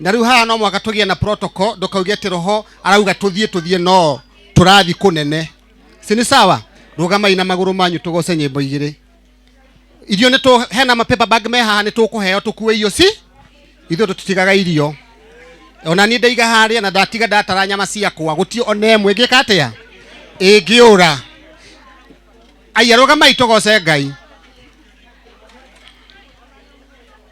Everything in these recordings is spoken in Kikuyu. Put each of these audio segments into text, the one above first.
na rĩu haha no mwaka tũgĩe na protocol ndũkauge atĩ roho arauga tũthiĩ tũthiĩ no tũrathiĩ kũnene si nĩ sawa rũgamai na magũrũ manyu tũgoce nyĩmbo igĩrĩ irio nĩ tũ hena mapepa bag me haha nĩ tũkũheo tũkue irio si ithuĩ tũtitigaga irio ona niĩ ndaiga harĩa na ndatiga ndatara nyama ciakwa gũtio ona ĩmwe ngĩka atĩa ĩngĩũra aiya rũgamai tũgoce ngai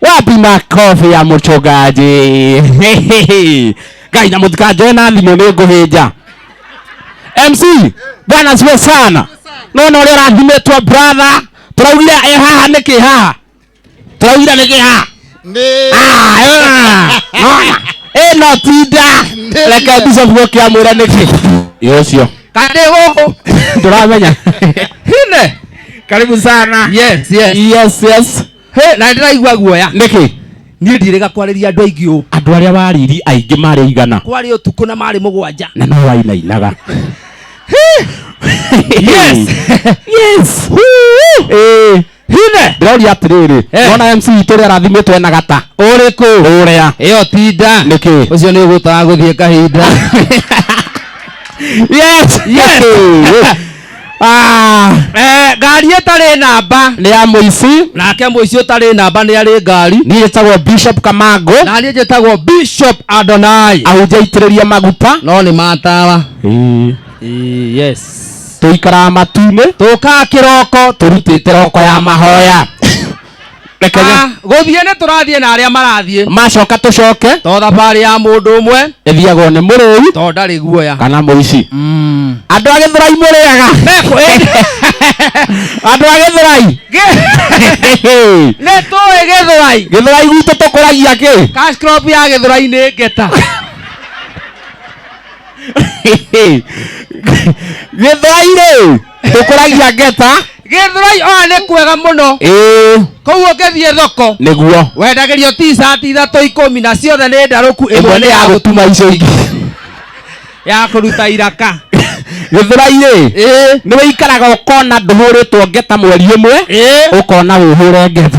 wapi makobi ya mũchungaji ngai na mũtikanjoe na thimũ nĩ ngũhĩnja mc bwana siwe sana nona ũrĩa ũrathimĩtwo brother tũraugire e haha nĩkĩ haha tũraugire nĩkĩ haha nĩ Ah, ah, nona ĩno tinda reke bishop gũkĩa mwĩra nĩkĩ ĩ ũcio kandĩ gũkũ ndũramenya hine karibu sana yes yes yes yes Hĩ, na ndĩraigua guoya nĩkĩ niĩ ndirĩga kwarĩria andũ aingĩ ũũ andũ arĩa wariri aingĩ marĩ igana kwarĩ ũtukũ na marĩ mũgwanja na no wainainaga Yes. yes Ĩĩ. hine ndĩroria atĩrĩrĩ Eh. wona mc itũ ũrĩa arathimĩtwo ena gata ũrĩkũ ũrĩa ĩyo tinda nĩkĩ ũcio nĩ ũgũtaga gũthiĩ kahinda yes yes Ah, Eh, ngari ĩtarĩ namba nĩ ya mũici nake mũici ũtarĩ namba nĩ arĩ ngari niĩ njĩtagwo bishop kamango na niĩ njĩtagwo bishop adonai ahunjia itĩrĩria maguta no nĩ matawa Ĩĩ, yes tũikaraga matu-inĩ tũkaa kĩroko tũrutĩte roko ya mahoya reke nye- Ah, gũthiĩ nĩ tũrathiĩ na arĩa marathiĩ macoka tũcoke to thabarĩ ya mũndũ ũmwe ĩthiagwo nĩ mũrĩu to ndarĩ guoya kana mũici Mm. andũ a gĩthũrai mũrĩaga andũ a gĩthũrai nĩ tũĩ gĩthũrai gĩthũrai gwitũ tũkũragia kĩ cash crop ya gĩthũrai nĩ ngeta gĩthũrai rĩ ndũkũragia ngeta githurai oa nä kwega må no ĩĩ koguo ngä thiä thoko nĩguo wendagä rio ticati ithatå ikå mi na ciothe nä ndarå ku ä ĩmwe mwe nĩ ya gũtuma icio ingĩ ya kå ruta iraka gĩthũrai-rĩ Ĩĩ. nĩ wĩikaraga ũkona ndũhũrĩtwo ngeta mweri ũmwe Ĩĩ. ũkona wĩhũre ngeta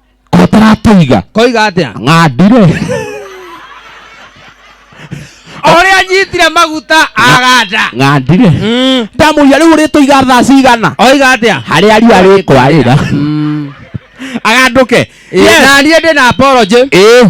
ko taratũiga koiga atia ng'andire oria anyitire maguta aganda ng'andire Mm. ndamũria rĩu ũrĩtũiga thaa cigana oiga atia harĩa riũa rĩkwarĩra agandũke Yes. na niä ndä na apology ĩĩ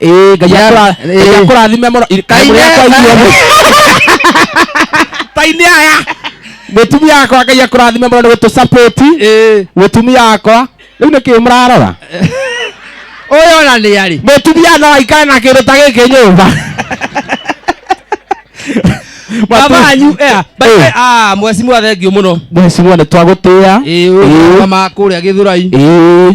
Ĩĩ, Ngai Yeah, akũra- eh. Ngai akũrathime mũno I- Kaĩ mũrĩ akwa nĩ- inyuothe. tai nĩ aya mũtumia wakwa ngai akũrathime mũno nĩ gũtũsapoti Ĩĩ. mũtumia wakwa rĩu nĩ kĩĩ mũrarora ũyũ ona nĩ arĩ mũtumia no aikare na kĩndũ ta gĩkĩ nyũmba baba wanyu ea Eh. ah mwecimu athengiũ mũno mweciria nĩ twagũtĩa ĩĩ ũyũ Ĩĩ. wa makũrĩa gĩthurai Ĩĩ.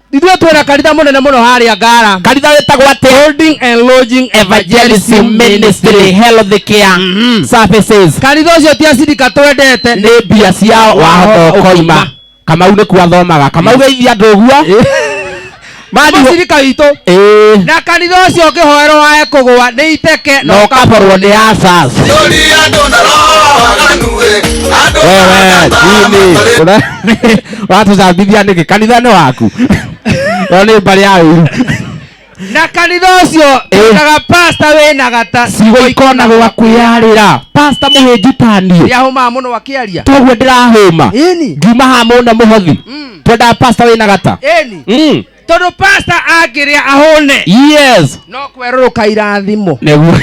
ithuĩ twĩna kanitha mũnene mũno harĩa ngara kanitha wĩtagwo atĩa holding and lodging evangelism evangelism ministry ministry health care Mhm. services kanitha ũcio ti acirika twendete nĩ mbia ciao wahota ũkoima kamau nĩ kuo athomaga kamau geithia andũ ũguo Mani- mũcirika witũ Ĩĩ. na kanitha ũcio ũngĩhoerwo wae kũgũa nĩ iteke na na ũkaborwo nĩ asas Tũri andũ na roho waganu ĩ, andũ wewe na ndama chini matarĩ Una- watũcambithia nĩkĩ kanitha nĩ waku ĩyo nĩ mbarĩ ya ũru na kanitha ũcio ĩkaga pasta wĩna gata ciugo ikonagwa kwĩyarĩra pasta mũhĩnju taniĩ yahũmaa mũno wakĩaria toguo ndĩrahũma ĩni ngiuma ha mũne mũhothi Mm. twendaga pasta wĩna gata ĩni Mm. tondũ pasta angĩrĩa ahũne yes no kwerũrũka irathimo nĩguo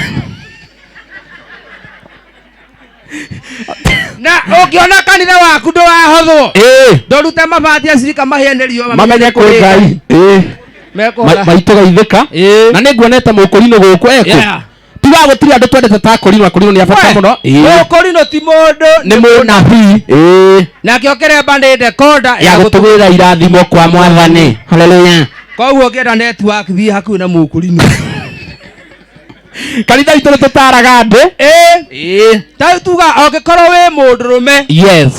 na ũngĩona kanitha waku ndũrahothwo ĩĩ ndorute mabati acirika mahĩa nĩ riũa mamenye kwĩ ngai ĩĩ Ma- mekũhora maitũ gaithĩka Ĩĩ. na nĩ nguona eta mũkũrinũ gũkũ eko Yeah. tiga gũtirĩ andũ twendete ta akũrinũ akũrinũ nĩ abata mũno Ĩĩ. ũkũrinũ ti mũndũ nĩ mũnabii Ĩĩ. nake ũkĩremba nĩ ndekonda ya gũtũgĩra irathimo kwa mwathani haleluya koguo ũngĩenda netiwaki thiĩ hakuhĩ na mũkũrinũ kanitha itå nä tå taraga andå Ĩĩ. ta tuga angĩkorwo wĩ mũndũ rũme yes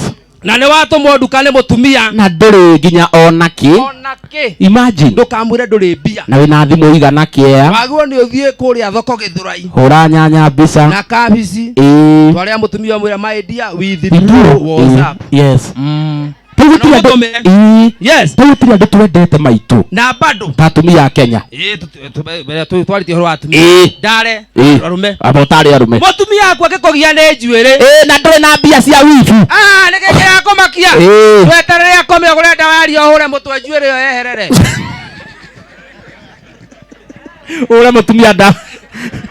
na nĩ watũmwo nduka nĩ mũtumia na ndå rä nginya ona kä ona kĩ imagine ndũkamwĩre ndũrĩ mbia na wä na thimå igana kä ea wagĩrwo nĩ ũthiĩ kũrĩa thoko gĩthũrai hå ra nyanya mbica na kabici ĩĩ twarĩa mũtumia mwĩra my dear with Ithuĩ- blue was up yes Mm. Tau Na gũtirĩ andũ- ũthome- Ii, yes tau gũtirĩ andũ twendete maitũ na bado ta atumia a kenya Eh, tu- tu- tu- mbere tu- twaritie horo wa atumia Ĩ. ndare Ĩ. arume aba ũtarĩ arume mutumia waku akikugia ni njuiri Ĩ, na ndũrĩ na mbia cia wibu Ah, nä kä kä ya kå makia Ĩ. tweterere akome å gå re ndawa ya ria å hå re må twe njuä rä yo yeherere ure mutumia nda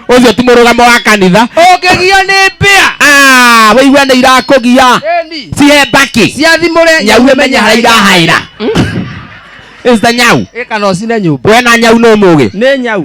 ucio ti murugamo wa kanitha ũngĩgio nĩ mbĩa Ah, waigua nä irakå gia Ĩni. cihe mbaki ciathimũre nyau ä menye harä irahaä ra nyau ĩkana ũcine nyũmba we na nyau nä må gä nĩ nyau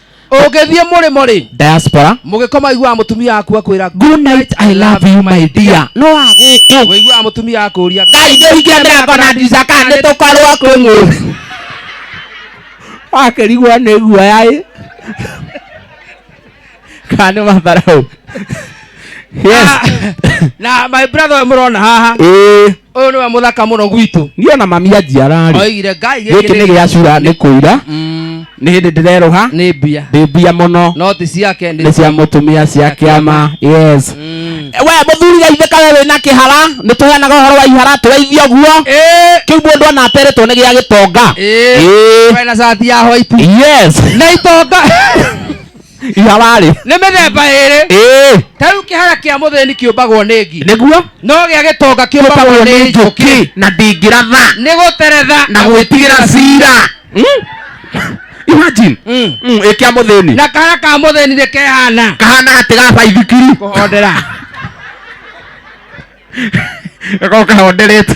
ũngĩthiĩ mũrĩmo rĩ diaspora mũgĩkoma aiguaga mũtumia waku akwĩra good night i love you my dear no agũkũ ũiguaga mũtumia akũria ngai ndĩhingia mĩrango na ndirica kana nĩ tũkorwo kwĩ mũndũ wakĩrigwo nĩ guoya ĩ kana nĩ matharaũ yes na my brother ũyũ mũrona haha ĩĩ ũyũ nĩwe mũthaka mũno gwitũ niĩ ona mami anjiara rĩ oigire ngai gĩkĩ nĩ gĩa cura nĩ kũira Mm, nĩ hĩndĩ ndĩrerũha nĩ mbia ndĩ mbia mũno no ti ciake nĩ cia mũtumia cia kĩama yes Mm. we mũthuri gaithĩka we wĩna kĩhara nĩ tũheanaga ũhoro wa ihara tũgeithio guo Ĩĩ, kĩu mũndũ ona ateretwo nĩ gĩa gĩtonga ĩĩ, Ĩĩ. we na cati ya white yes na itonga iha warĩ nĩ mĩthemba ĩrĩ ĩĩ ta rĩu kĩhara kĩa mũthĩni kĩũmbagwo nĩ ngi nĩguo no gĩa gĩtonga kĩũmbagwo kĩũmbagwo nĩ nĩ njũkĩ njũkĩ na ndingĩratha nĩ gũteretha na gwĩtigĩra cira Mm? imagine Mm. Mm, ĩ kĩa mũthĩni na kahara ka mũthĩni nĩ kehana kahana atĩ ga baithikiri kũhondera gakorwo kahonderete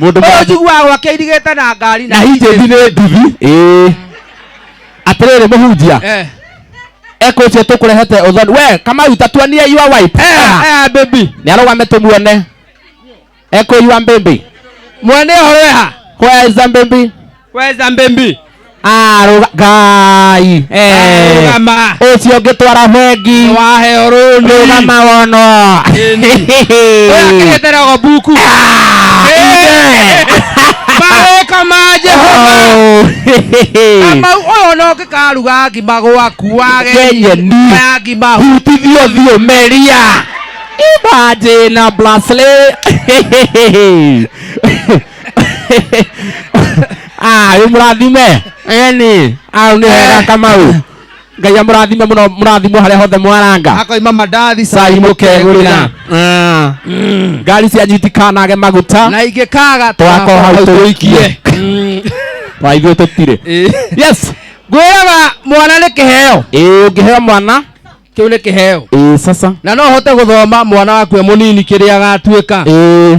Mũndũ ũyũ njiguaga gwake irigĩte na ngari na hinjĩthi nĩ nduthi ĩĩ atĩrĩrĩ mũhunjia Eh, ekũnjia tũkũrehete ũthoni we kamau ta tuonie your wife eh, eh, baby nĩ arũgame tũmuone ekũyua mbĩmbĩ mwene ũhoro weha where is the mbĩmbĩ weza mbembi Ah, ruga- ngai Eh, rugama ũcio ngĩtwara bengi waheo rũni rũgama wonwo akĩgetera buku mawĩka ma jehova kamau ũyũ no ngĩkaruga ngima gwaku wage Ngenye ni. ya ngima hutithio thiũ meria imagine a bracelet ah yu murathime eni ah ni wega kamau ngai amurathime muno murathimo haria hothe mwaranga akoima mandathi cai mukegurira Ah. ngari cia nyitikanage maguta na ingĩkaga twakora hau tũikie wa ithuĩ tũtirĩ yes ngwĩraga mwana nĩ kĩheo ĩĩ ũngĩheo mwana kĩu nĩ kĩheo ĩĩ sasa na no hote gũthoma mwana waku e mũnini kĩrĩa agatuĩka ĩĩ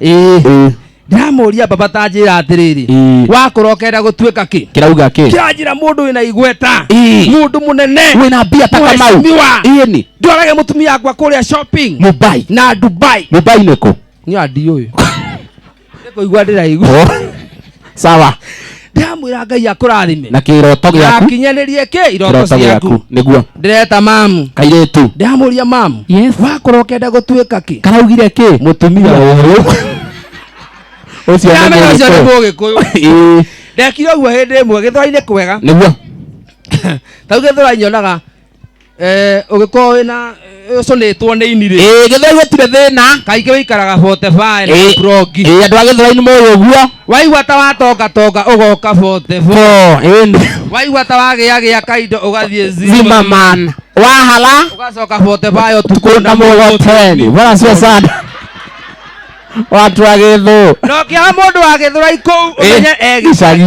ĩĩ ndĩramũria baba tanjĩra atĩrĩrĩ Ĩĩ. wakũra ũkenda gũtuĩka kĩ kĩrauga kĩ kĩranjĩra mũndũ wĩna igweta Ĩĩ. mũndũ mũnene wĩna mbia ta kamau Mheshimiwa. ĩĩ nĩ ndwarage mũtumia wakwa kũrĩa shopping mubai na dubai mubai nĩkũ niå andiå ä nä kå igua ndä raigua sawa ndamwira ngai akurathime na kiroto giaku akinyanĩrie kä iroto kiroto giaku ciaku niguo ndĩreta mamu kairetu ndamuria mamu Yes. wakorwo ũkenda gũtuĩka kä karaugire ki mutumia uyu ucio nĩ ndamenya ũcio nĩ mũgĩkũyũ. mũgĩkũyũ Ĩĩ, ndekire ũguo hĩndĩ ĩmwe gĩthũra-inĩ kwega niguo tau gĩthũra nyonaga Eh, ũgĩkorwo wĩna ũcũnĩtwo nĩ inirĩ ĩĩ gĩthwai gũtirĩ thĩna kaingĩ wĩikaraga botebae na Ĩĩ. burongi ĩĩ andũ a gĩthwainĩ moĩ ũguo waigua ta watongatonga ũgoka botebo Bo, ĩni waigua ta wagĩagĩa kaindo ũgathiĩ zima zimaman wahala ũgacoka botebae ũtukũ kunda mũgoteni bora sio sana watu wa gĩthũ no kĩaha mũndũ wa gĩthũrai kũu Ĩĩ, ũmenye egi gĩcagi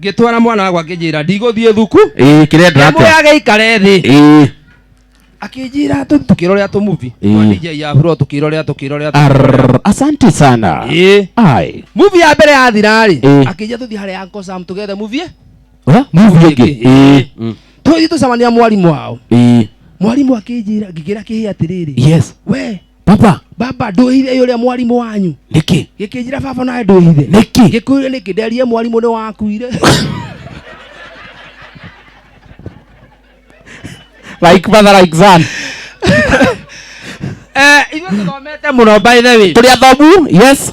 ngĩtwara mwana wakwa ngĩnjĩra ndigũthiĩ thuku ĩĩ kĩrenda atĩa ndamũyage ikare thĩ ĩĩ akĩnjĩra tũ- tũkĩrorera tũmuvi Ĩĩ. dj ya bro tũkĩrorera tũkĩrorera Arr, asante sana ĩĩ ai muvi ya mbere yathirarĩ Ĩĩ. akĩnjĩra tũthiĩ harĩa uncle sam tũgethe muvi Ha? movie ĩngĩ ĩĩ Mm. tũthiĩ tũcemania mwarimũ wao ĩĩ mwarimũ akĩnjĩra ngĩkĩra kĩhĩ atĩrĩrĩ yes we papa baba ndwĩhithe ĩ ũrĩa mwarimũ wanyu nĩkĩ gĩkĩnjĩra baba nawe ndwĩhithe nĩkĩ gĩkuire nĩkĩ nderie mwarimũ nĩ wakuire like mother like son Eh, ithuĩ tũthomete mũno by the way tũrĩ athomu yes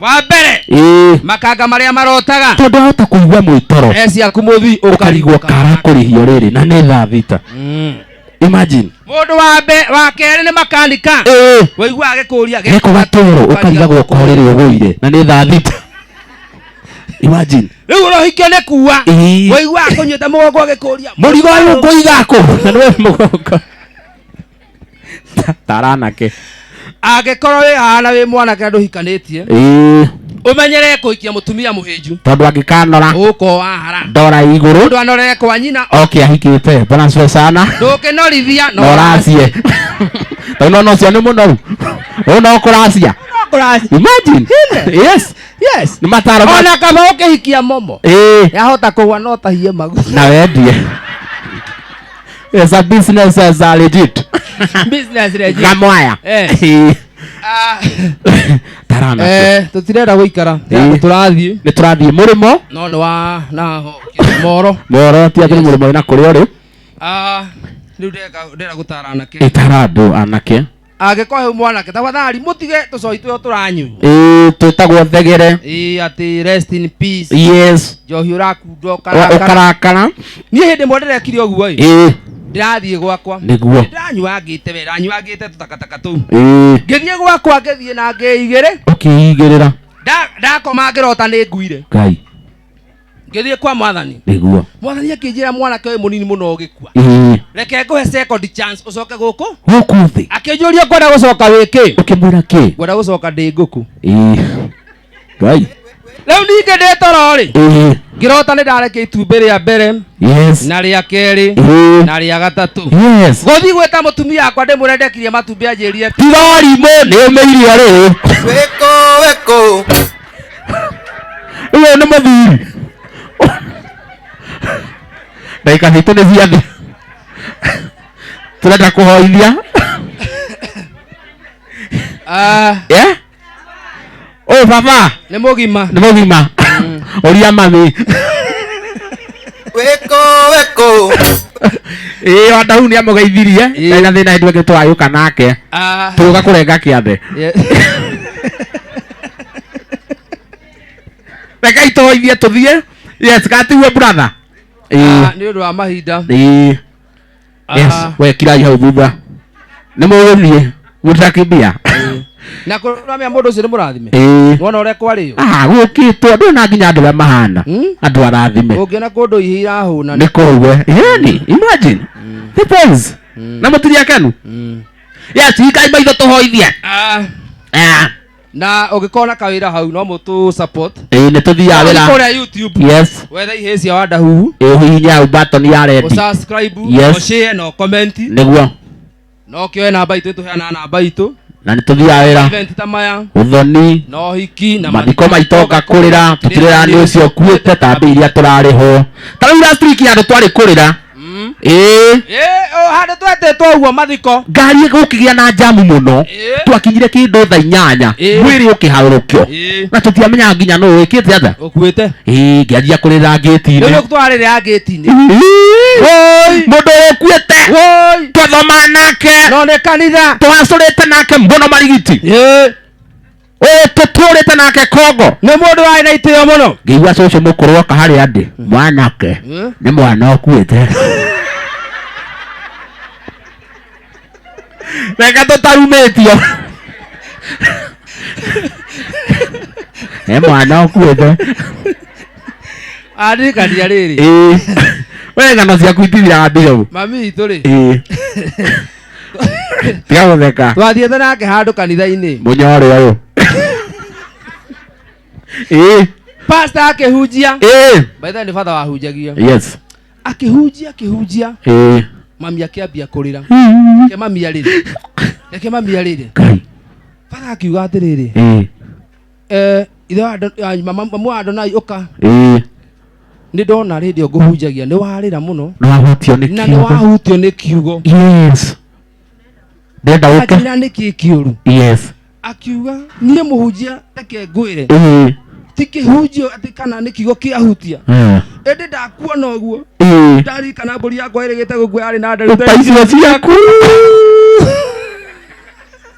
wa mbere ĩĩ makanga marĩa marotaga tondũ ahota kũigua mwĩtoro e ciaku mũthii ũkarigwo ũkarigwo kara kũrĩhio rĩrĩ na nĩ thaa thita Mm. imagine mũndũ wa mbe- wa kerĩ nĩ makanika ĩĩ waigua agĩkũria geko gatoro ũkarigagwo ũkorĩrwo ũgũire na nĩ thaa thita imagine rĩu ũrohikio nĩ kuwa Ĩĩ. waigua akũnyita mũgongo agĩkũria mũrigo ũyũ ngũiga kũ na nĩwe mũgongo taranake angĩkorwo wĩ hahana wĩ mwanake na ndũhikanĩtie Ĩĩ, ũmenyerere kũhikia mũtumia mũhĩnju tondũ angĩkanora ũko wahara ndora igũrũ mũndũ anorere kwa nyina oke ahikĩte bwana asifiwe sana ndũkĩnorithia na ũracie tondũ nona ũcio nĩ mũnoru ũna ũkũracia kũraci imagine yes yes nĩ mataro ma- ona kaba ũkĩhikia momo Ĩĩ, yahota kũgwa no tahie magu na wendie As a business as a legit. business legit Gamwaya. Eh. Tarana. eh tutirenda guikara Eh. turathie Nĩ tũrathiĩ mũrĩmo. no ni wa na moro Moro ti atĩ nĩ mũrĩmo wĩna kũrĩa ũrĩ. ah riu ndeka ndera gutara anake Ĩtara andũ anake. angĩkorwo hau mwanake tafadhali mũtige tũcoi tũyo tũranyunywa Ĩĩ, twĩtagwo thegere ĩĩ atĩ rest in peace yes njohi ũrakunda Wa- ũkarakara ũkarakara niĩ hĩndĩ ĩmwe ndĩrekire ũguo ĩ Ĩĩ, ndĩrathiĩ gwakwa Nĩguo. ndanyuangĩte we ndanyuangĩte tũtakataka tũu ĩĩ. ngĩthiĩ gwakwa ngĩthiĩ na ngĩigĩrĩ ũkĩigĩrĩra Nda- ndakoma ngĩrota nĩ nguire ngai ngĩthiĩ kwa mwathani nĩguo mwathani akĩnjĩra mwanake ũyũ mũnini mũno ũgĩkua Ĩĩ, reke ngũhe second chance ũcoke gũkũ gũkũ thĩ akĩnjũria ngwenda gũcoka wĩkĩ ũkĩmwĩra kĩ ngwenda gũcoka ndĩ ngũkũ Ĩĩ. ngai rĩu ningĩ ndĩ toro rĩ Ĩĩ, ngĩrota nĩ ndarekia itumbĩ rĩa mbere yes na rĩa kerĩ Ĩĩ, na rĩa gatatũ yes gũthiĩ gwĩta mũtumia wakwa ndĩmwĩre ndekirie matumbĩ anjĩrire tirarimũ nĩ ũmĩirio rĩu weko weko Uyo ni muthuri. Ndagika citu ni cia thi. Turenda kuhoithia. Ah, Yeah? Uyu baba nĩ mũgima ni mugima. Uria mami. Weko weko. Ĩĩ wa ndau nĩ amũgeithirie. Ĩĩ. Ndari na thĩna hĩndĩ ĩngĩ twayũka nake. Ah, Tũgũka kũrenga kĩathe. ye- rekai tũhoithie tũthiĩ yes gatigue brother Ah, Ĩĩ, nĩ ũndũ wa mahinda ĩĩ. Ah, yes wekirai hau thutha nĩ mũgũthiĩ mũtakimbia na kũramĩa mũndũ ũcio nĩ mũrathime Ĩĩ. wona ũrĩa kwarĩyo Ah, gũkĩtwo ndũĩ na nginya andũ arĩa mahana Hmm? andũ arathime ũngĩona kũndũ ihi irahũna nĩ kũue yani imagine depends na mũtiria kenu yes hingai maitho tũhoithie Ah, Ah, na ũngĩkorwo na kawĩra hau no mũtũ support ĩĩ nĩ tũthiaga wĩra kũrĩa youtube yes wetha ihĩĩ cia wanda huhu ĩhihinya hau button ya rendi ũsubscribe Yes. ũshare na ũkomenti nĩguo na ũkĩoe namba itũ tũheana namba itũ na nĩ tũthiaga wĩra event ta maya ũthoni na ũhiki na mathiko maitũ ngakũrĩra tũtirĩra nĩ ũcio ũkuĩte tambĩ iria tũrarĩhwo ta rĩu last week andũ twarĩ kũrĩra Mm. ĩĩ Eh, oh, handå twetĩtwo ũguo mathiko ngari gũkĩgĩa na njamu mũno Ĩĩ. twakinyire kĩndũ tha inyanya Ĩĩ. mwĩrĩ ũkĩharũrũkio Ĩĩ. na tũtiamenyaga nginya nũ wĩkĩte atha å kuä te ĩĩ ngĩanjia kũrĩra rä ngĩti-inĩ u twarä rä a ngä tinä Ĩĩ. mũndå ũkuĩte twathoma nake no nä kanitha twacũrĩte nake mũno marigiti ũyũ tũtũrĩte nake kongo nĩ mũndũ warĩ na itĩo mũno ngĩigua cũcũ mũkũrũ oka harĩa ndĩ mwanake nĩ mwana ũkuĩte reka tũtarumĩtio nĩ mwana ũkuĩte andirikania rĩrĩ ĩĩ we ngano ciaku itithiraga mbirũ mami witũ rĩ ĩĩ tiga gutheka twathiĩte nake handũ kanitha-inĩ munyore uyu eh pasta akĩhunjia eh baitha nĩ bata wahunjagia yes akĩhunjia akĩhunjia eh mami akĩambia kũrĩra reke mami arĩre reke mami arĩre kai bata akiuga atĩrĩrĩ eh eh, ithe wa Ado- ah, mama- mamu wa adonai ũka ĩĩ nĩ ndona rĩndĩ ngũhunjagia nĩ warĩra mũno nĩwahutio nĩ na nĩ kiugo wahutio nĩ kiugo yes ndenda ũke akĩra nĩ kĩ kĩũru yes akiuga niĩ mũhunjia reke ngwĩre ĩĩ ti kĩhunjio atĩ kana nĩ kiugo kĩahutia Eh. ĩndĩ ndakuona ũguo ĩĩ ndarikana mbũri yakwa ĩrĩgĩte gũkua yarĩ na ndarĩ ta icio ciaku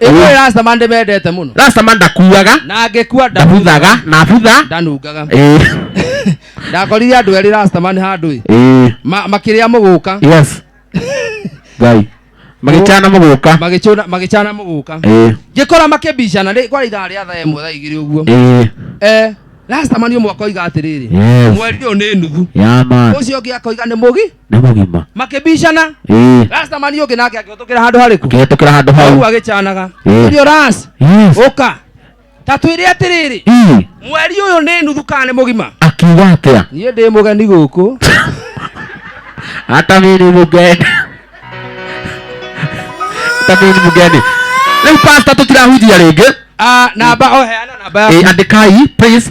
ĩmwe rastaman ndĩmendete mũno rastama ndakuaga na angĩkua nda- ndabuthaga na butha ndanungaga Ĩĩ, ndakorire andũ erĩ rastaman handũ ĩ ĩĩ, Ma- makĩrĩa mũgũka yes ngai magĩchana mũgũka magĩcũna- magĩcana mũgũka Ĩĩ, ngĩkora makĩbicana rĩ- kwarĩ ithaa rĩa thaa ĩmwe thaa igĩrĩ ũguo ĩĩ, Eh, rastaman ũmwe akoiga atĩrĩrĩ yes mweri ũyũ nĩ nuthu ya man ũcio ũngĩ akoiga nĩ mũgi nä må gima makĩbicana Ĩĩ, rasta mani ũngĩ nake akĩhũtũkĩra handũ harĩkũ kä tå kä ra handå hau hau agĩcanaga Ĩĩ. ũrio ras Yes. ũka ta twĩre atĩrĩrĩ Ĩĩ, mweri ũyũ nĩ nuthu kana nĩ mũgima akiuga atä a niĩ ndĩ mũgeni gũkũ hata mä nä må ngeni hata mä nä må ngeni rä u pasta tå tirahunjia rä ngä Ah, namba oheana namba yaku andä kai please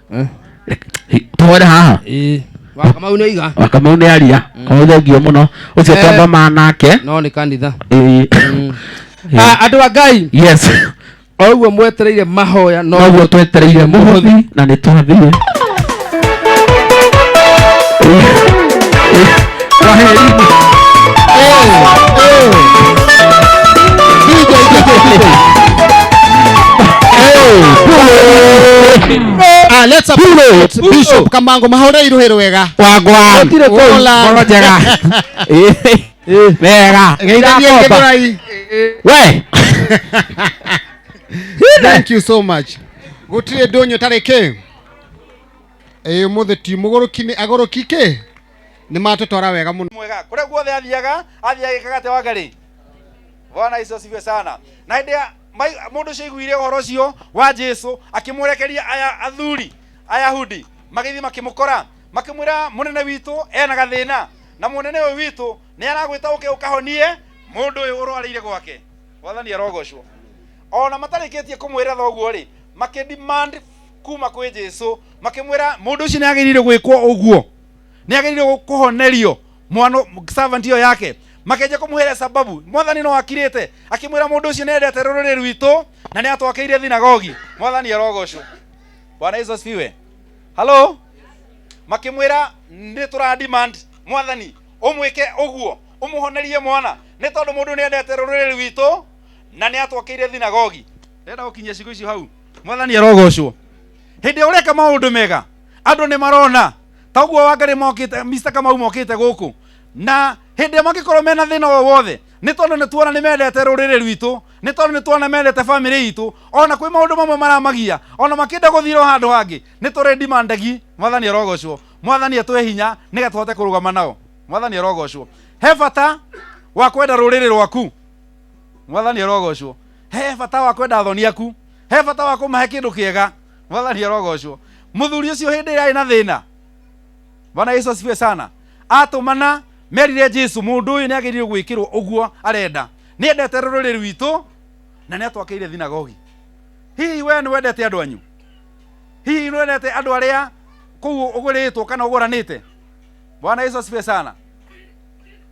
Eh. tũhore haha Ĩĩ. Wa Kamau nĩ oiga wa kamau nĩ aria kamau thengio mũno ũcio Eh. twambama nake no nĩ kanitha Ĩĩ. Ah, andũ a ngai yes o ũguo mwetereire mahoya no noguo twetereire mũhothi na nĩ twathiĩ Kwaherini. Eh, eh. DJ, DJ, DJ. Eh, Pulo. Ah, let's up- let's- Bishop Kamango mahore iruhero wega. Wagwan. Gũtirĩ kũu. Hola. Ngoro njega. Wega. Geithanie Gĩthũrai. We. Thank you so much. Gũtirĩ ndũnyũ tarĩ kĩ. Eh, ũmũthĩ ti mũgũrũki nĩ agũrũki kĩ? nĩ matũtwara wega mũno mwega kũrĩa guothe athiaga athiaga gĩkaga atĩa wangarĩ bwana yesu asifiwe sana na hĩndĩ ya mai- mũndũ ũcio aiguire ũhoro ũcio wa jesu akĩmũrekeria aya athuri ayahudi magĩthiĩ makĩmũkora makĩmwĩra mũnene witũ ena gathĩna na mũnene ũyũ witũ nĩ aragwĩta ũke ũkahonie mũndũ ũyũ ũrwarĩire gwake wathani arogocwo ona matarĩkĩtie kũmwĩra thoguo rĩ makĩdemand kuma kwĩ jesu makĩmwĩra mũndũ ũcio nĩ agĩrĩire gwĩkwo ũguo nĩ agĩrĩire kũhonerio mwana servant ĩyo yake makenja kũmũhĩra sababu mwathani no akirĩte akĩmwĩra mũndũ ũcio nĩ endete rũrĩrĩ rwitũ na nĩ atwakeire thinagogi mwathani arogocwo bwana yesu asifiwe halo makĩmwĩra nĩ tũra demand mwathani ũmwĩke ũguo ũmũhonerie mwana nĩ tondũ mũndũ nĩ endete rũrĩrĩ rwitũ na nĩ atwakeire thinagogi ndenda gũkinyia cigo icio hau mwathani arogocwo hĩndĩ ĩrĩa ũreka maũndũ mega andũ nĩ marona ta ũguo wangari mokĩte mr kamau mokĩte gũkũ na hĩndĩ ĩrĩa mangĩkorwo mena thĩna o wothe nĩ tondũ nĩ tuona nĩ mendete rũrĩrĩ rwitũ nĩ tondũ nĩ tuona mendete bamĩrĩ itũ ona kwĩ maũndũ mamwe maramagia ona makĩenda gũthira o handũ hangĩ nĩ tũrĩ ndimandagi mwathani arogocwo mwathani atũhe hinya nĩgetha tũhote kũrũgama nao mwathani arogocwo he bata wa kwenda rũrĩrĩ rwaku mwathani arogocwo he bata wa kwenda athoni aku he bata wa kũmahe kĩndũ kĩega mwathani arogocwo mũthuri ũcio hĩndĩ ĩrĩa arĩ na thĩna bwana yesu asifiwe sana atũmana merire jesu mũndũ ũyũ nĩ agĩrĩire gwĩkĩrwo ũguo arenda nĩ endete rũrĩrĩ rwitũ na nĩ atwakĩire thinagogi hihi we nĩ wendete andũ anyu hihi nĩ wendete andũ arĩa kũu ũgũrĩtwo kana ũgũranĩte bwana yesu asifiwe sana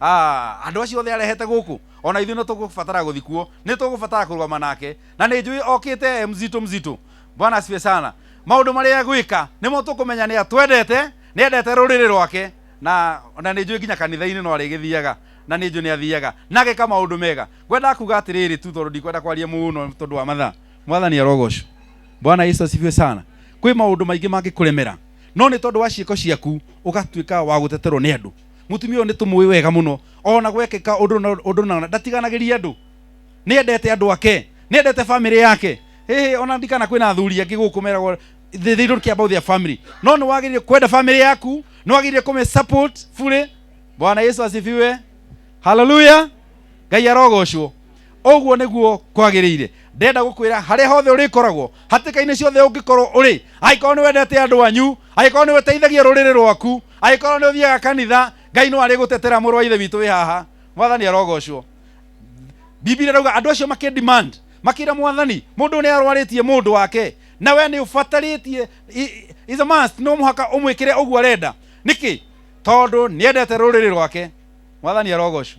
Ah, andũ acio othe arehete gũkũ, o na ithuĩ nĩ tũgũbatara gũthi kuo, nĩ tũgũbatara kũrũgama nake. Na nĩ njũĩ okĩte e mzito mzito. Bwana asifiwe sana. Maũndũ marĩa egwĩka, nĩmo tũkũmenya nĩ atwendete, nĩ endete rũrĩrĩ rwake, na, na nĩ njũĩ nginya kanitha-inĩ no arĩgĩthiaga, na nĩ njũĩ nĩ athiaga, na ageka maũndũ mega. Ngwendaga kuuga atĩrĩrĩ tu, tondũ ndikwenda kwaria mũno tondũ wa mathaa. Mwathani arogocwo. Bwana Yesu asifiwe sana. Kwĩ maũndũ maingĩ mangĩkũremera, no nĩ tondũ wa ciĩko ciaku, ũgatuĩka wa gũteterwo nĩ andũ. mutumia uyu nitumui wega muno ona gwekika undu na undu na ndatiganagiria andu ni endete andu ake ni endete family yake hey, ona ndikana kwina athuri angi guku meragwo they, they don't care about their family no ni wagirire kwenda family yaku ni wagirire kume support fully bwana yesu asifiwe haleluya ngai arogocwo ũguo nĩguo kwagĩrĩire ndenda gũkwĩra harĩa hothe ũrĩkoragwo hatĩka-inĩ ciothe ũngĩkorwo ũrĩ angĩkorwo nĩ wendete andũ anyu angĩkorwo nĩ ũteithagia rũrĩrĩ rwaku angĩkorwo nĩ ũthiaga kanitha ngai no arĩ gũtetera mũrũ wa ithe witũ wĩ haha mwathani arogocwo bibilia rauga andũ acio makĩ demand makĩra mwathani mũndũ nĩ arwarĩtie mũndũ wake na we nĩ ũbatarĩtie is a must no mũhaka ũmwĩkĩre ũguo arenda nĩkĩ tondũ nĩ endete rũrĩrĩ rwake mwathani arogocwo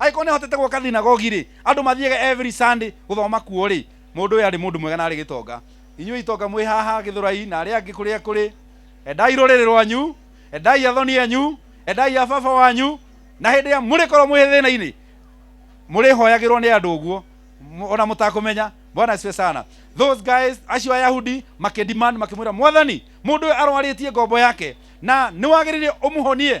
agĩkorwo nĩ ahotete gwaka thinagogi-rĩ andũ mathiaga every sunday gũthoma kuo-rĩ mũndũ ũyũ arĩ mũndũ mwega na arĩ gĩtonga inyuĩ itonga mwĩ haha gĩthũrai na arĩa angĩ kũrĩa kũrĩ endai rũrĩrĩ rwanyu endai athoni enyu endai a baba wanyu na hĩndĩ ĩrĩa mũrĩkorwo mwĩ thĩna-inĩ mũrĩhoyagĩrwo nĩ andũ ũguo Mũ- ona mũtakũmenya bwana asifiwe sana those guys acio ayahudi makĩdemand makĩmwĩra mwathani mũndũ ũyũ arwarĩtie ngombo yake na nĩwagĩrĩire ũmũhonie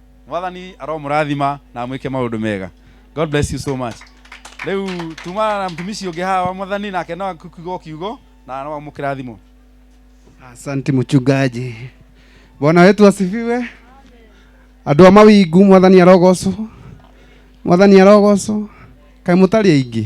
mwathani aromũrathima na amwĩke maũndũ mega god bless you so much rĩu tumana na mtumishi ũngĩ haha wa mwathani nake no akiugo kiugo na no amũkĩrathimo Asante mchungaji. Bwana wetu asifiwe. Andũ a mawingu mwathani arogocwo. Mwathani arogocwo. Kaĩ mũtarĩ aingĩ.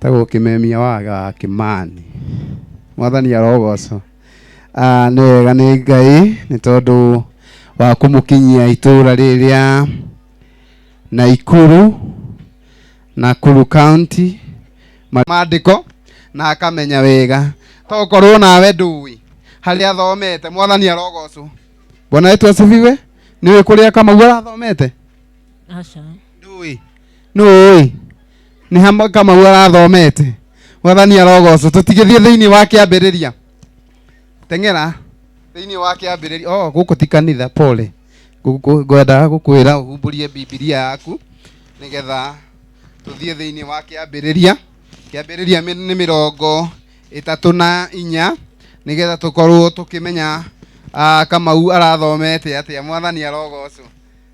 tagwo kimemia waga wa kimani mwathani arogocwo Ah, nĩ wega nĩ ngai nĩ tondũ wa kũmũkinyia itũra rĩrĩ rĩa naikuru nakuru county ma- maandĩko na akamenya wega tokorwo nawe ndũĩ harĩa athomete mwathani arogocwo bwana wetu asifiwe nĩwĩ kũrĩa kamau arathomete aca ndũĩ nũũĩ nĩ hamwe kamau arathomete mwathani arogocwo tũtigĩthiĩ thĩinĩ wa kĩambĩrĩria teng'era thĩinĩ wa kĩambĩrĩria oh, gũkũ ti kanitha pole Gũkũ- ngwendaga gũkwĩra ũhumbũrie bibilia yaku nĩgetha tũthiĩ thĩinĩ wa kĩambĩrĩria kĩambĩrĩria mĩ- nĩ mĩrongo ĩtatũ na inya nĩgetha tũkorwo tũkĩmenya ah, kamau arathomete atĩa mwathani arogocwo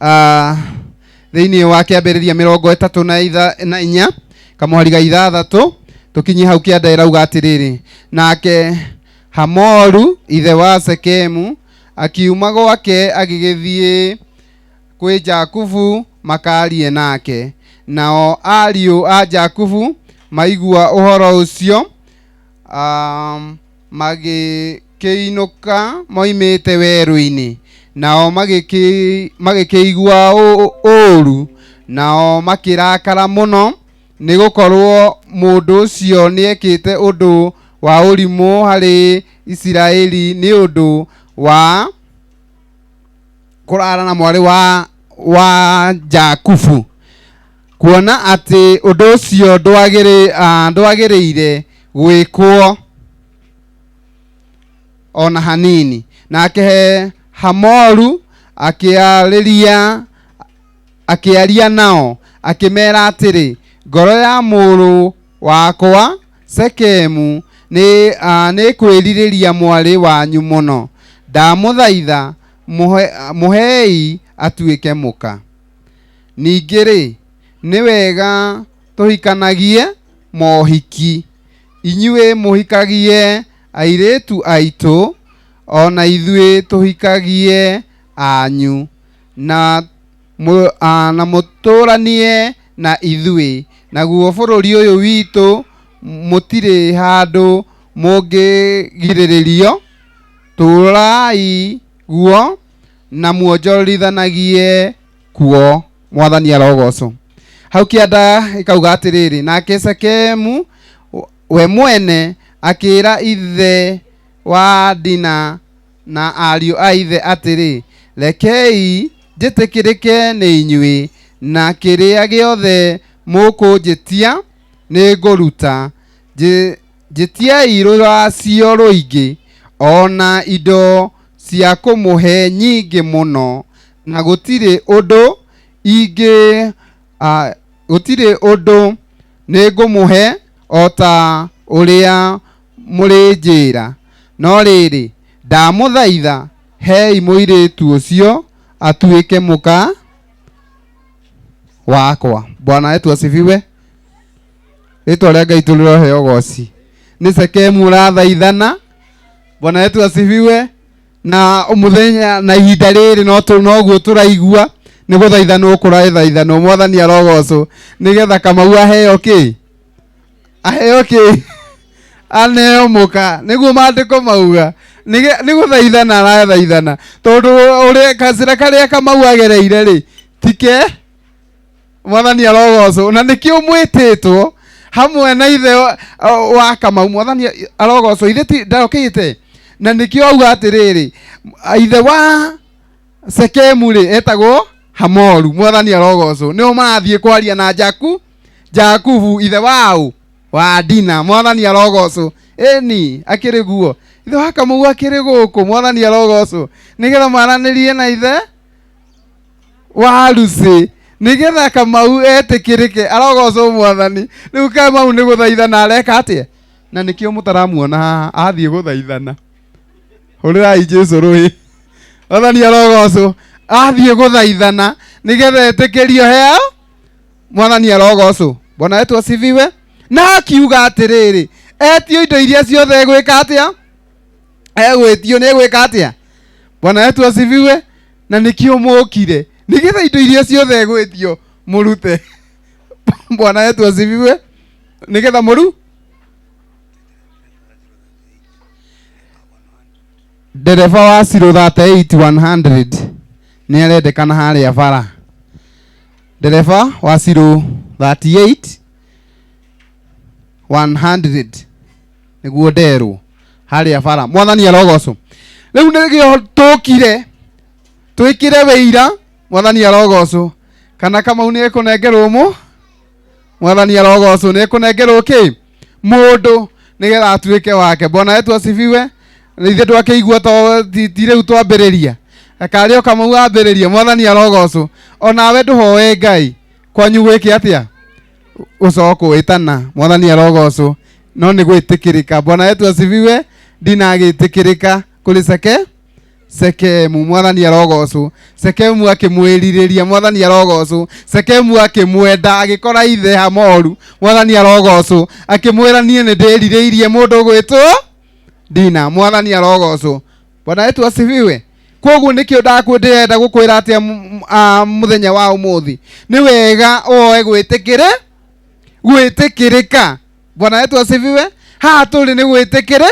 Ah, thĩinĩ wa kĩambĩrĩria mĩrongo ĩtatũ na itha- na inya kamwari ga ithathatũ tũkinyie hau kĩanda ĩrauga atĩrĩrĩ nake hamoru ithe wa sekemu akiuma gwake agĩgĩthiĩ kwĩ jakubu makarie nake nao ariũ a jakubu maigua ũhoro ũcio um, magĩkĩinũka moimĩte werũ-inĩ, nao magĩkĩ, magĩkĩigua ũ- ũũru, nao makĩrakara mũno, nĩ gũkorwo mũndũ ũcio nĩekĩte ũndũ wa ũrimũ harĩ Isiraeli nĩ ũndũ wa kũrara na mwarĩ wa, wa Jakubu. kuona atĩ ũndũ ũcio ndwagĩrĩ, ah, ndwagĩrĩire gwĩkwo o na hanini nake hamoru akĩarĩria akĩaria nao akĩmera atĩrĩ ngoro ya mũrũ wakwa sekemu nĩ ah, nĩkwĩrirĩria mwarĩ wanyu mũno ndamũthaitha mũhe, mũhei atuĩke mũka ningĩ rĩ nĩ wega tũhikanagie mohiki inyuĩ mũhikagie airĩtu aitũ ona ithuĩ tũhikagie anyu na mũ, a, na mũtũranie na ithuĩ naguo bũrũri ũyũ witũ mũtirĩ handũ mũngĩgirĩrĩrio tũrai guo na muonjorithanagie kuo mwathani arogocwo hau kĩanda gĩkauga atĩrĩrĩ nake sekemu we mwene akĩra ithe wa dina na ariũ a ithe atĩrĩ rekei njĩtĩkĩrĩke nĩ inyuĩ na kĩrĩa gĩothe mũkũnjĩtia nĩ ngũruta Njĩ- Njĩtiai rũracio rũingĩ, o na indo cia kũmũhe nyingĩ mũno, na gũtirĩ ũndũ ingĩ, a, gũtirĩ ũndũ nĩngũmũhe o ta ũrĩa mũrĩnjĩĩra. No rĩrĩ, ndamũthaitha, heei mũirĩĩtu ũcio atuĩke mũka wakwa. Bwana wetu asifiwe. rĩtwa rĩa ngai tũrĩrohe ũgoci nĩ sekemu ũrathaithana bwana yetu asifiwe na mũthenya na ihinda rĩrĩ no tũ- noguo tũraigua nĩ gũthaithanwo kũrathaithanwo mwathani arogocwo nĩgetha kamau aheo kĩ aheo kĩ aneo mũka nĩguo maandĩko mauga Nĩge- nĩ gũthaithana arathaithana tondũ ũrĩa kacĩra karĩa kamau agereire rĩ tike mwathani arogocwo na nĩkĩ ũmwĩtĩtwo hamwe na ithe wa- o- wa kamau mwathani arogocwo ithe ti- ndokĩte na nĩkĩo auga atĩrĩrĩ m- ithe wa sekemu rĩ etagwo hamoru mwathani arogocwo nĩo marathiĩ kwaria na jaku jakubu ithe waũ wa dina mwathani arogocwo ĩni akĩrĩ guo ithe wa kamau akĩrĩ gũkũ mwathani arogocwo nĩgetha maranĩrie na ithe wa rucĩ nĩgetha kamau etĩkĩrĩke arogocwo mwathani rĩu kamau nĩ gũthaithana areka atĩa na nĩkĩo mũtaramuona haha athiĩ gũthaithana hũrĩrai jesu rũĩ mwathani arogocwo athiĩ gũthaithana nĩgetha etĩkĩrio hea mwathani arogocwo mbona wetu asifiwe na akiuga atĩrĩrĩ etio indo iria ciothe egwĩka atĩa egwĩtio nĩ egwĩka atĩa bwana wetu asifiwe na nĩkĩo mũkire nĩgetha indo iria ciothe gwĩtio mũrute bwana yetu asifiwe nĩgetha mũru ndereba wa ciro 38100 nĩ arendekana harĩa bara ndereba wa ciro 38 100 nĩguo nderwo harĩa bara mwathani arogocwo rĩu nĩgĩo tũkire twĩkĩre wĩira mwathani arogocwo kana kamau nĩ ekũnengerwo mũ mwathani arogocwo nĩ ekũnengerwo kĩ mũndũ nĩgetha atuĩke wake bwana wetu asifiwe ithe twakĩigua to ti ti rĩu twambĩrĩria akarĩ o kamau ambĩrĩria mwathani arogocwo onawe ndũhoe ngai kwanyu gwĩke atĩa gucoka kuwitana mwathani arogocwo no ni gwitikirika bwana yetu asifiwe ndinagitikirika kuri seke sekemu mwathani arogocwo sekemu akimwiririria mwathani arogocwo sekemu akimwenda agikora ithe hamoru mwathani arogocwo akimwira nie ni ndirireirie mundu gwitwo ndina mwathani arogocwo bwana wetu asifiwe koguo nĩkĩo ndakwĩ ndĩrenda gũkwĩra atĩa m- m- ah, mũthenya wa ũmũthĩ nĩ wega oe gwĩtĩkĩrĩ gwĩtĩkĩrĩka bwana wetu asifiwe haha tũrĩ nĩ gwĩtĩkĩrĩ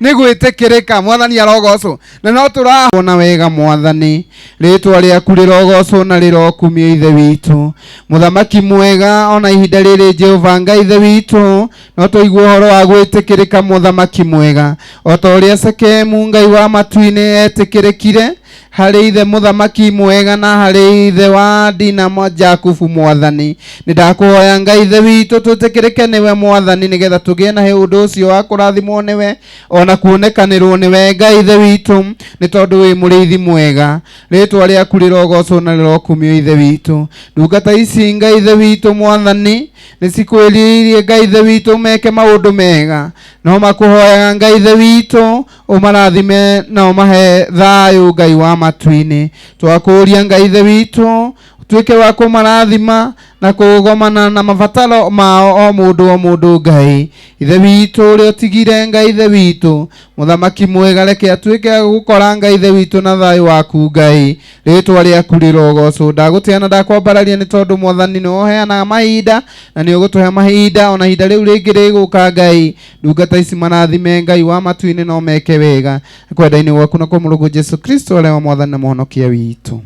nĩ gwĩtĩkĩrĩka mwathani arogocwo na no tũrahona wega mwathani rĩtwa rĩaku rĩrogocwo na rĩrokumio ithe witũ mũthamaki mwega ona ihinda rĩrĩ jehova ngai ithe witũ no tũigua ũhoro wa gwĩtĩkĩrĩka mũthamaki mwega o ta ũrĩa sekemu ngai wa matu-inĩ etĩkĩrĩkire harĩ ithe mũthamaki mwega na harĩ ithe wa dina mwa- jakubu mwathani nĩ ndakũhoya ngai ithe witũ twĩtĩkĩrĩke nĩwe mwathani nĩgetha tũgĩe na ũndũ ũcio wa kũrathimwo nĩwe o na kuonekanĩrwo nĩwe ngai ithe witũ nĩ tondũ wĩ mũrĩithi mwega rĩtwa rĩaku rĩrogocwo na rĩrokumio ithe witũ ndungata ici ngai ithe witũ mwathani nĩ cikwĩrirĩirie ngai ithe witũ meke maũndũ mega no makũhoyaga ngai ithe witũ ũmarathime na ũmahe thayũ ngai wa matu-inĩ twakũũria ngai ithe witũ tuĩke wa kũmarathima na kũgomana na mabataro mao o mũndũ o mũndũ ngai ithe witũ ũrĩa ũtigire ngai ithe witũ mũthamaki mwega reke atuĩke agũkora ngai ithe witũ na thayũ waku ngai rĩtwa rĩaku rĩrogocwo ndagũtĩa na ndakwambararia nĩ tondũ mwathani nĩ woheanaga mahinda na nĩ ũgũtũhe mahinda ona ihinda rĩu rĩngĩ rĩgũka ngai ndungata ici marathime ngai wa matu-inĩ no meke wega kwenda-inĩ gwaku na kwa mũrũgũ jesu kristo arĩa wa mwathani na mũhonokia witũ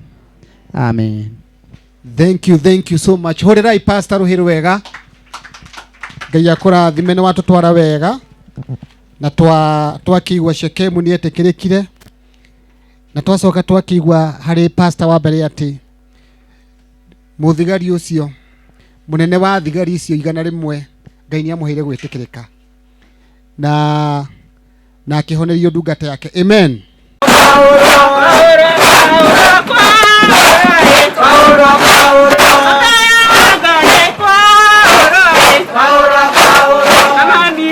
amen thank you thank you so much horerai pastor ruhiru wega ngai akũrathime nĩ watũtwara wega na twa twakĩigua shekemu nĩ etĩkĩrĩkire na twacoka twakĩigua harĩ pasta wa mbere atĩ mũthigari ũcio mũnene wa thigari icio igana rĩmwe ngai nĩ amũheire gwĩtĩkĩrĩka na na akĩhonerio ndungata yake amen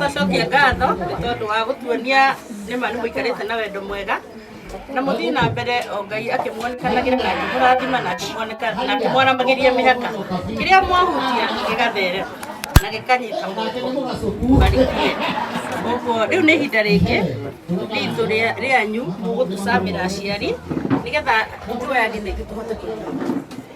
tũcokie ngatho nĩ tondũ wa gũtuonia nĩ ma nĩ mũikarĩte na wendo mwega na mũthiĩ na mbere o ngai akĩmuonekanagĩra na akĩmũrathima na akĩmuoneka- na akĩmwaramagĩria mĩhaka kĩrĩa mwahutia gĩgatherera na gĩkanyita moko marikie ũguo rĩu nĩ ihinda rĩngĩ ritũ rĩa- rĩanyu mũgũtũcamĩra aciari nĩgetha ithuĩ ageni aitũ tũhote kũnyua